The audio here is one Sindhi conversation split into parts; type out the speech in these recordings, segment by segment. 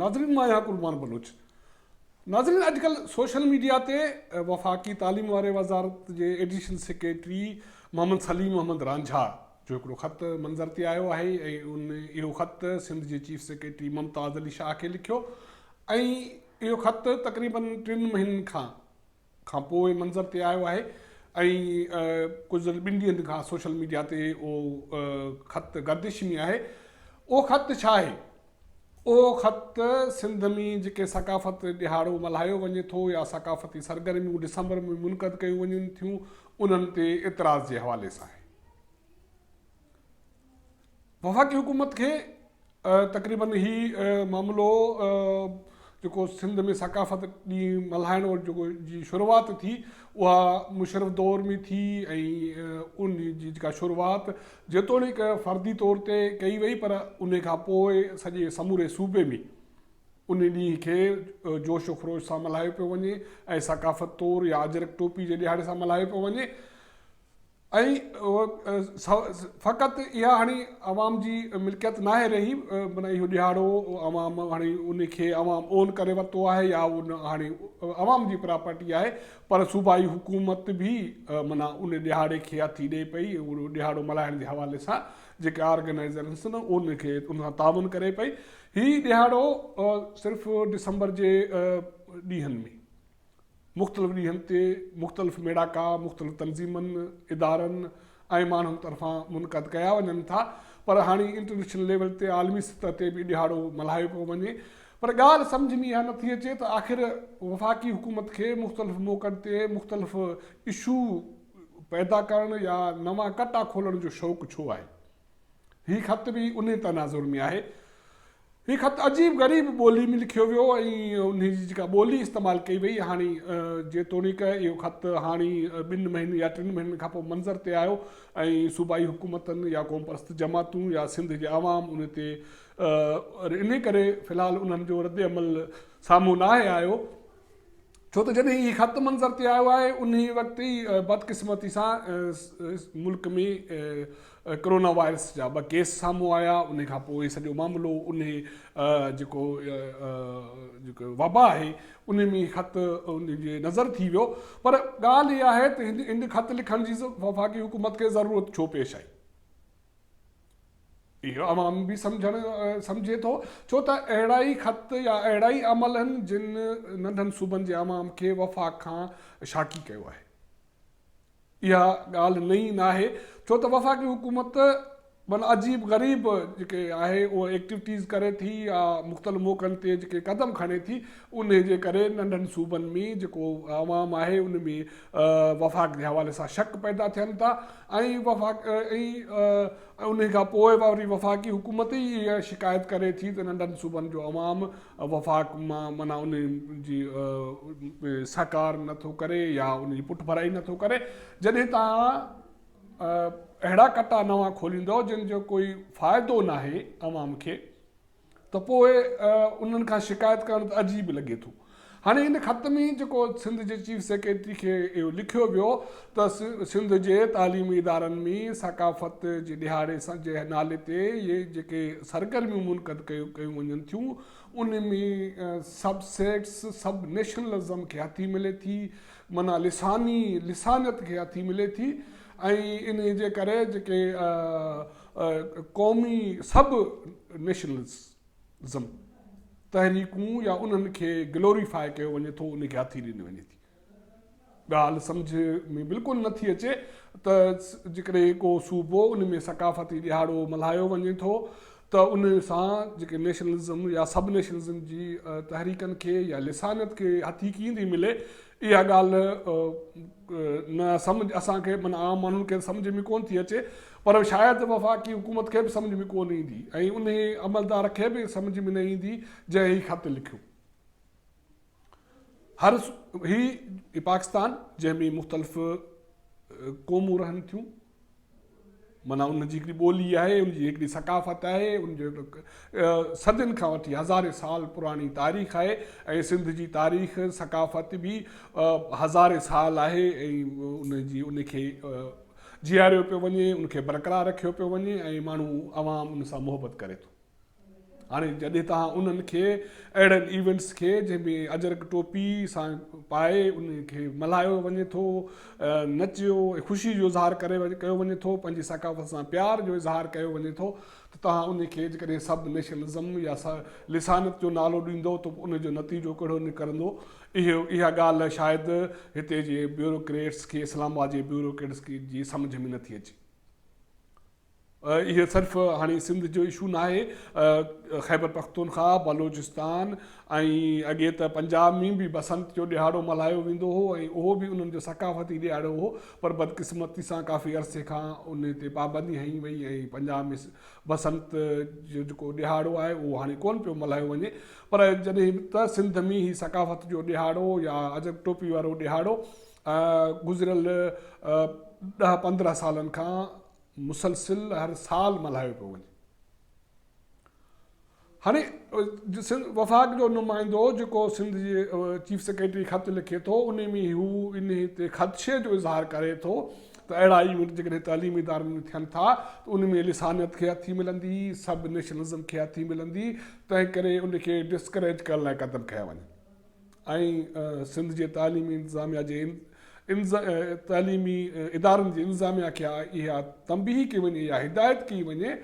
ناظرين مان آهيان قربان بلوچ ناظرين اڄڪلهه سوشل ميڊيا تي وفاقي تعليم واري وزارت جي ايڊيشنل سيڪريٽري محمد سليم احمد رانجها جو هڪڙو خط منظر تي آيو آهي ۽ اهو خط سنڌ جي چيف سيڪريٽري ممتاز علي شاهه کي لکيو ۽ اهو خط تقريباً ٽن مهينن کان کان پوء منظر تي آيو آهي ۽ گذريل ٻن ڏينهن کان سوشل ميڊيا تي اهو خط گردش ۾ آهي اهو خط ڇا آهي اهو خط سنڌ ۾ جيڪي ثقافت ڏهاڙو ملهايو وڃي ٿو يا ثقافتي سرگرميون ڊسمبر ۾ منعقد ڪيون وڃن ٿيون انهن تي اعتراض جي حوالي سان آهي وفاقي حڪومت کي تقريبن هي معاملو جيڪو سنڌ ۾ ثقافت ڏينهن ملهائڻ جيڪو جي شروعات ٿي اها مشرف دور ۾ ٿي ۽ ان جي جيڪا شروعات جيتوڻيڪ فردي طور تي ڪئي وئي پر ان کان پوء سڄي سموري صوبي ۾ ان ڏينهن کي جوش و خروش سان ملهايو پيو وڃي ۽ ثقافت طور يا اجرڪ ٽوپي جي ڏيهاڙي سان ملهايو پيو وڃي ۽ فقط اها هاڻي عوام جي ملڪيت ناهي رهي معنيٰ اهو ڏيهاڙو عوام هاڻي ان کي عوام اون ڪري ورتو آهي يا ان هاڻي عوام جي پراپرٽي آهي پر صوبائي حڪومت به معنيٰ ان ڏيهاڙي کي هٿي ڏئي پئي اهو ڏيهاڙو ملهائڻ جي حوالي سان جيڪي آرگنائزرنس نه ان کي ان سان تعاون ڪري پئي هي ڏيهاڙو صرف ڊسمبر جي ڏينهن ۾ مختلف ڏينهن تي مختلف ميڙاڪا مختلف تنظيمن، ادارن ۽ ماڻهن طرفان منعقد ڪيا وڃن ٿا پر هاڻي انٽرنيشنل ليول تي عالمي سطح تي به ڏهاڙو ملهايو پيو وڃي پر ڳالهه سمجهه ۾ اها نه ٿي اچي ته آخر وفاقي حڪومت کي مختلف موقعن تي مختلف اشو پيدا ڪرڻ يا نوان ڪٽا کولڻ جو شوق ڇو آهي. هي خط به انهي تناظر ۾ آهي. هي خط عجيب غريب ٻولي ۾ لکيو ويو ۽ انهي جي جيڪا ٻولي استعمال ڪئي وئي هاڻي جيتوڻيڪ اهو خط هاڻي ٻن مهينن يا ٽن مهينن کان پوء منظر تي آيو ۽ صوبائي حڪومتن يا قومپرست جماعتون يا سنڌ جي عوام ان تي انهي ڪري في الحال انهن جو رد عمل سامهون ناهي آيو ڇو ته جڏهن هي خط منظر تي آيو آهي انهي وقت ئي بدقسمتي سان ملڪ ۾ ڪرونا وائرس جا ٻه ڪيس سامهون آيا انهي کان پوء سڄو معاملو انهي جيڪو جيڪو وبا آهي انهي ۾ خط انهي جي نظر ٿي ويو پر ڳالهه هي آهي ته هن خط لکڻ جي وفاقي حڪومت کي ضرورت ڇو پيش آئي. اهو عوام به سمجهي ٿو، ڇو ته اهڙا ئي خط يا اهڙا ئي عمل هن جن ننڍن صوبن جي عوام کي وفاق کان شاڪي ڪيو آهي. اها ڳالهه نئين ناهي، ڇو ته وفاقي حڪومت من عجيب غريب جيڪي آهي اها ايڪٽوٽيز ڪري ٿي يا مختلف موقعن تي جيڪي قدم کڻي ٿي، انهي جي ڪري ننڍن صوبن ۾ جيڪو عوام آهي ان ۾ وفاق جي حوالي سان شڪ پيدا ٿين ٿا ۽ وفاق ۽ انهي کان پوء وري وفاقي حڪومت ئي اها شڪايت ڪري ٿي ته ننڍن صوبن جو عوام وفاق مان معنيٰ انهي جي سهڪار نه ٿو ڪري يا ان جي پٺڀرائي نه ٿو ڪري جڏهن توهان اهڙا ڪٽا نوان کوليندؤ جن جو ڪوئي فائدو ناهي عوام کي. ته پوء انهن کان شڪايت ڪرڻ ته عجيب لڳي ٿو. هاڻي هن خط ۾ جيڪو سنڌ جي چيف سيڪريٽري کي اهو لکيو ويو ته سنڌ جي تعليمي ادارن ۾ ثقافت جي ڏهاڙي جي نالي تي جيڪي سرگرميون منعقد ڪيون وڃن ٿيون ان ۾ سب سيٽس سب نيشنلزم کي هٿي ملي ٿي معنيٰ لساني لسانيت کي هٿي ملي ٿي ۽ انهي جي ڪري جيڪي قومي سب نيشنلزم تحريڪون يا انهن کي گلوري فاء ڪيو وڃي ٿو انهي کي هٿي ڏني وڃي ٿي ڳالهه سمجهه ۾ بلڪل نه ٿي اچي ته جيڪڏهن ڪو صوبو ان ۾ ثقافتي ڏيهاڙو ملهايو وڃي ٿو ته ان سان جيڪي نيشنلزم يا سب نيشنلزم جي تحريڪن کي يا لسانيت کي هٿي ڪيئن ٿي ملي اها ڳالهه نه سمجهه اسان کي معنيٰ عام ماڻهن کي سمجهه ۾ ڪونه ٿي اچي پر شايد وفاقي حڪومت کي به سمجهه ۾ ڪونه ايندي ۽ انهي عملدار کي به سمجهه ۾ نه ايندي جنهن هي خط لکيو. هر هي پاڪستان جنهن ۾ مختلف قومون رهن ٿيون معنيٰ ان جي هڪڙي ٻولي آهي، ان جي هڪڙي ثقافت آهي، ان جو صدين کان وٺي هزارين سال پراڻي تاريخ آهي ۽ سنڌ جي تاريخ ثقافت به هزارين سال آهي ۽ ان جي ان کي جياريو پيو وڃي ان کي برقرار رکيو پيو وڃي ۽ ماڻهو عوام ان سان محبت ڪري ٿو هاڻي جڏهن توهان انهن کي اهڙن ايونٽس کي جنهن ۾ اجرڪ ٽوپي سان پائي ان کي ملهايو وڃي ٿو نچيو ۽ خوشي جو اظهار ڪري ڪيو وڃي ٿو پنهنجي ثقافت سان پيار جو اظهار ڪيو وڃي ٿو ته توهان ان کي جيڪڏهن سب نيشنلزم يا لسانيت جو نالو ڏيندو ته ان جو نتيجو ڪهڙو نڪرندو اها ڳالهه شايد هتي جي بيوروڪريٽس کي اسلام آباد جي بيوروڪريٽس جي سمجهه ۾ نٿي اچي اهي صرف هاڻي سنڌ جو اشو ناهي خيبر پختونخواهه، بلوچستان ۽ اڳي ته پنجاب ۾ به بسنت جو ڏهاڙو ملهايو ويندو هو ۽ اهو به انهن جو ثقافتي ڏهاڙو هو پر بدقسمتي سان ڪافي عرصي کان ان تي پابندي هنئي وئي ۽ پنجاب ۾ بسنت جو جيڪو ڏهاڙو آهي اهو هاڻي ڪونه پيو ملهايو وڃي پر جڏهن ته سنڌ ۾ هي ثقافت جو ڏهاڙو يا عجب ٽوپي وارو ڏهاڙو گذريل ڏهه پندرهن سالن کان مسلسل هر سال ملهايو پيو وڃي هاڻي وفاق جو نمائندو جيڪو سنڌ جي چيف سيڪريٽري خط لکي ٿو ان ۾ هو ان تي خدشي جو اظهار ڪري ٿو ته اهڙا ايونٽ جيڪڏهن تعليمي ادارن ۾ ٿين ٿا ته ان ۾ لسانيت کي هٿي ملندي سب نيشنلزم کي هٿي ملندي تنهن ڪري ان کي ڊسڪريج ڪرڻ لاء قدم کنيا وڃن ۽ سنڌ جي تعليمي انتظاميا جي تعليمي ادارن جي انتظاميا کي اها تنبيهه ڪئي وڃي يا هدايت ڪئي وڃي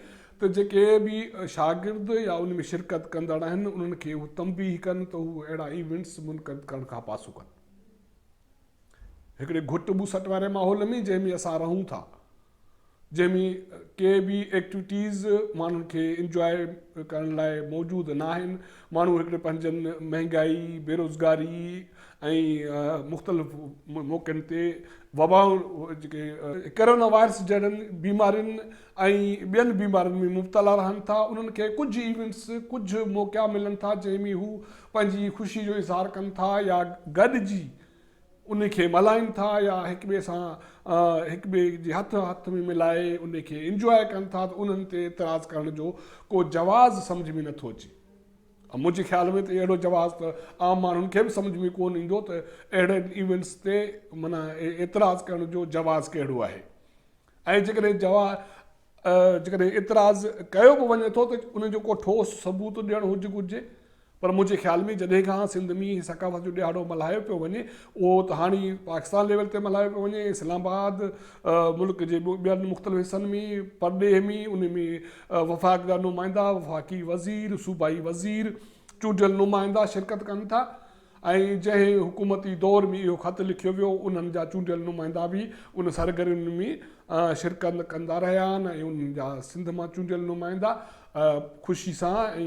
ته جيڪي به شاگرد يا ان ۾ شرڪت ڪندڙ آهن انهن کي اهو تنبيهه ڪن ته هو اهڙا ايونٽس منقد ڪرڻ کان پاسو ڪن. هڪڙي گهٽ ٻوسٽ واري ماحول ۾ جنهن ۾ اسان رهون ٿا جنهن ۾ ڪي به ايڪٽيوٽيز ماڻهن کي انجواء ڪرڻ لاء موجود نه آهن ماڻهو هڪڙي پنهنجن مهنگائي بيروزگاري ۽ مختلف موقعن تي وبا جيڪي ڪرونا وائرس جهڙن بيمارين ۽ ٻين بيمارين ۾ مبتلا رهن ٿا انهن کي ڪجهه ايونٽس ڪجهه موقعا ملن ٿا جنهن ۾ هو پنهنجي خوشي جو اظهار ڪن ٿا يا گڏجي انهي کي ملهائين ٿا يا هڪ ٻئي سان هڪ ٻئي جي هٿ هٿ ۾ ملائي انهي کي انجواء ڪن ٿا ته انهن تي اعتراض ڪرڻ جو ڪو جواز سمجهه ۾ نٿو اچي ۽ منهنجي خيال ۾ ته اهڙو جواز ته عام ماڻهن کي به سمجهه ۾ ڪون ايندو ته اهڙن ايونٽس تي معنيٰ اعتراض ڪرڻ جو جواز ڪهڙو آهي ۽ جيڪڏهن جوا جيڪڏهن اعتراض ڪيو به وڃي ٿو ته ان جو ڪو ٺوس ثبوت ڏيڻ هج گهرجي پر منهنجي خيال ۾ جڏهن کان سنڌ ۾ هي ثقافت جو ڏهاڙو ملهايو پيو وڃي اهو ته هاڻي پاڪستان ليول تي ملهايو پيو وڃي اسلام آباد ملڪ جي ٻين مختلف حصن ۾ پرڏيهه ۾ ان ۾ وفاق جا نمائندا وفاقي وزير صوبائي وزير چونڊيل نمائندا شرڪت ڪن ٿا ۽ جنهن حڪومتي دور ۾ اهو خط لکيو ويو، انهن جا چونڊيل نمائندا به ان سرگرمين ۾ شرڪت ڪندا رهيا آهن ۽ انهن جا سنڌ مان چونڊيل نمائندا خوشي سان ۽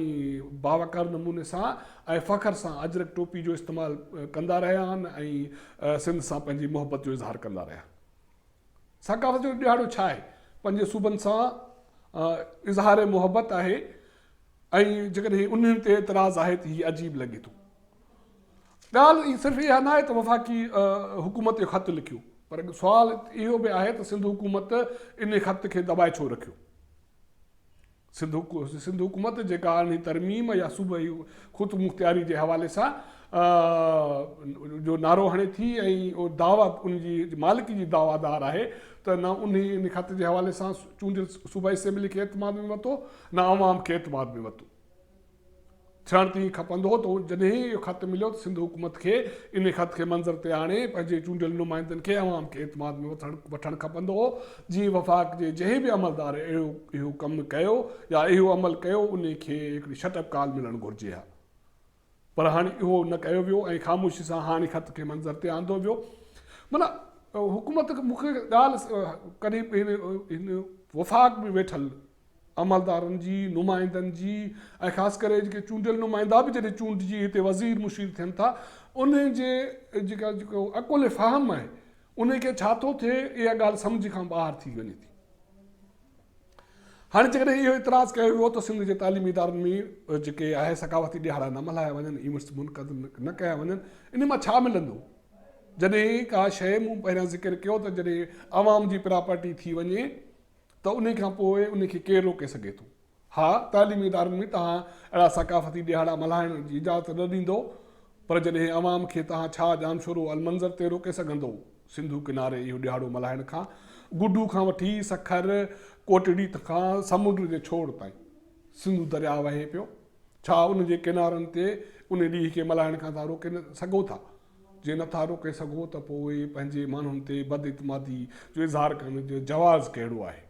باوقار نموني سان ۽ فخر سان اجرڪ ٽوپي جو استعمال ڪندا رهيا آهن ۽ سنڌ سان پنهنجي محبت جو اظهار ڪندا رهيا. ثقافت جو ڏهاڙو ڇا آهي؟ پنهنجي صوبن سان اظهار محبت آهي. ۽ جيڪڏهن انهن تي اعتراض آهي ته هي عجيب لڳي ٿو. ڳالهه ئي صرف اها ناهي ته وفاقي حڪومت اهو خط لکيو پر سوال اهو به آهي ته سنڌ حڪومت انهي خط کي دٻائي ڇو رکيو؟ سنڌ حڪومت جيڪا انهي ترميم يا صوبائي خودمختياري جي حوالي سان جو نعرو هڻي ٿي ۽ دعويٰ ان جي مالڪي جي دعويٰ دار آهي ته نه انهي انهي خط جي حوالي سان چونڊيل صوبائي اسيمبلي کي اعتماد ۾ ورتو نه عوام کي اعتماد ۾ وتو ٿيڻ تي ائين کپندو هو ته جڏهن اهو خط مليو ته سنڌ حڪومت کي ان خط کي منظر تي آڻي پنهنجي چونڊيل نمائندن کي عوام کي اعتماد ۾ وٺڻ کپندو هو جي وفاق جي جنهن به عملدار اهو ڪم ڪيو يا اهو عمل ڪيو ان کي هڪڙي شٽ اپ ڪال ملڻ گهرجي ها پر هاڻي اهو نه ڪيو ويو ۽ خاموشي سان هاڻي خط کي منظر تي آندو ويو. معنيٰ حڪومت مون کي ڳالهه ڪري هن وفاق ۾ ويٺل عملدارن جي، نمائندن جي ۽ خاص ڪري جيڪي چونڊيل نمائندا به جڏهن چونڊجي هتي وزير مشير ٿين ٿا انهن جي جيڪا جيڪو عقل فهم آهي انهن کي ڇا ٿو ٿئي اها ڳالهه سمجهه کان ٻاهر ٿي وڃي ٿي. هاڻي جيڪڏهن اهو اعتراض ڪيو ويو ته سنڌ جي تعليمي ادارن ۾ جيڪي اهي ثقافتي ڏهاڙا نه ملهايا وڃن، ايونٽس منعقد نه ڪيا وڃن، انهي مان ڇا ملندو؟ جڏهن ڪا شيء مون پهريان ذڪر ڪيو ته جڏهن عوام جي پراپرٽي ٿي وڃي ته انهي کان پوء انهي کي ڪير روڪي سگهي ٿو؟ ها تعليمي ادارن ۾ توهان اهڙا ثقافتي ڏهاڙا ملهائڻ جي اجازت نه ڏيندو پر جڏهن عوام کي توهان ڇا ڄامشورو المنظر تي روڪي سگهندو؟ سنڌو ڪناري اهو ڏهاڙو ملهائڻ کان گڊو کان وٺي سکر ڪوٽڙي کان سمنڊ جي ڇوڙ تائين سنڌو درياهه وهي پيو ڇا ان جي ڪنارن تي ان ڏينهن کي ملهائڻ کان تها روڪي سگهو ٿا جي نٿا روڪي سگهو ته پوء پنهنجي ماڻهن تي بد اعتمادي جو اظهار ڪرڻ جو جواز ڪهڙو آهي.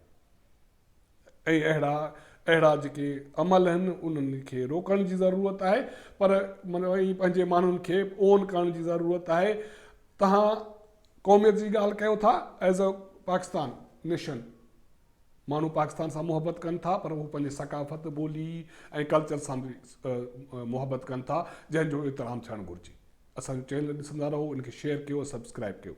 ۽ اهڙا اهڙا جيڪي عمل آهن انهن کي روڪڻ جي ضرورت آهي پر معنيٰ ائين پنهنجي ماڻهن کي اون ڪرڻ جي ضرورت آهي تهان قوميت جي ڳالهه ڪيو ٿا ايز اي پاڪستان نيشن ماڻهو پاڪستان سان محبت ڪن ٿا پر هو پنهنجي ثقافت ٻولي ۽ ڪلچر سان به محبت ڪن ٿا جنهن جو احترام ٿيڻ گهرجي اسان جو چينل ڏسندا رهو ان کي شيئر ڪيو سبسڪرائب ڪيو